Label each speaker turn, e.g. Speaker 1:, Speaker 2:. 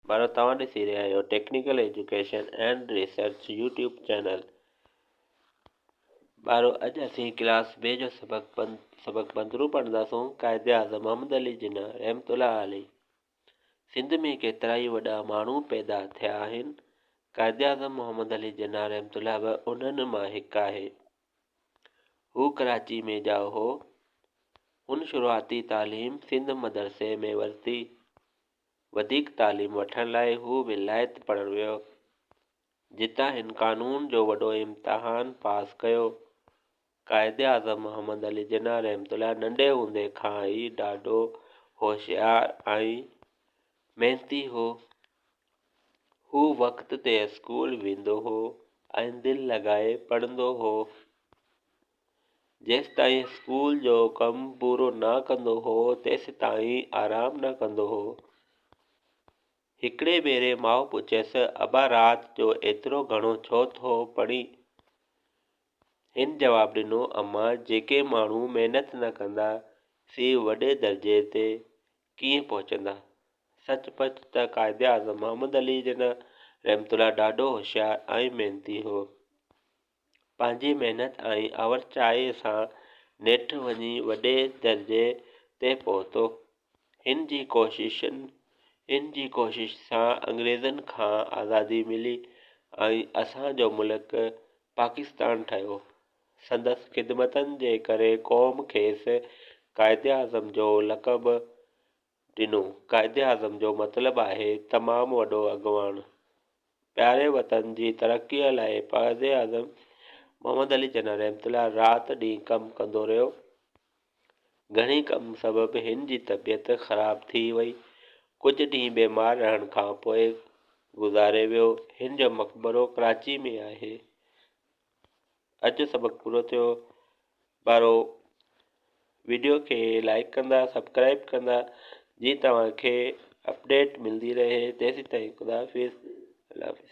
Speaker 1: ڀائرو توهان ڏسي رهيا آهيو technical education and research YouTube channel ڀائرو اڄ اسين ڪلاس بي جو سبق بند سبق بندرو پڙهنداسون قائد اعظم محمد علي جناح رحمت الله علي سنڌ ۾ ڪيترا ئي وڏا ماڻهو پيدا ٿيا آهن قائد اعظم محمد علي جناح رحمت الله به انهن مان هڪ آهي هو ڪراچي ۾ ڄائو هو هن شروعاتي تعليم سنڌ مدرسي ۾ ورتي وڌيڪ تعليم وٺڻ لاء هو ولايت پڙهڻ ويو، جتان هن قانون جو وڏو امتحان پاس ڪيو. قائداعظم محمد علي جناح رحمة الله ننڍي هوندي کان ئي ڏاڍو هوشيار ۽ محنتي هو. هو وقت تي اسڪول ويندو هو ۽ دل لڳائي پڙهندو هو. جيستائين اسڪول جو ڪم پورو نه ڪندو هو، تيستائين آرام نه ڪندو هو. هڪڙي ڀيري ماء پڇيس، ابا رات جو ايترو گهڻو ڇو ٿو پڙهين؟ هن جواب ڏنو، اما! جيڪي ماڻهو محنت نه ڪندا، سي وڏي درجي تي ڪيئن پهچندا؟ سچ پچ ته قائداعظم محمد علي جناح رحمة الله ڏاڍو هوشيار ۽ محنتي هو. پنهنجي محنت ۽ آورچائيء سان نيٺ وڃي وڏي درجي تي پهتو. هن جي ڪوششن هن جي ڪوشش سان انگريزن کان آزادي ملي ۽ اسان جو ملڪ پاڪستان ٺهيو. سندس خدمتن جي ڪري قوم کيس قائداعظم جو لقب ڏنو. قائداعظم جو مطلب آهي تمام وڏو اڳواڻ. پياري وطن جي ترقيء لاء قائداعظم محمد علي جناح رحمة الله رات ڏينهن ڪم ڪندو رهيو. گهڻي ڪم سبب هن جي طبيعت خراب ٿي وئي. ڪجهه ڏينهن بيمار رهڻ کانپوء گذاري ويو. هن جو مقبرو ڪراچي ۾ آهي. اڄ سبق پورو ٿيو ٻارو ويڊيو کي لائڪ ڪندا سبسڪرائب ڪندا جي توهان کي اپڊيٽ ملندي رهي تيسين تائين خدا حافظ الله حافظ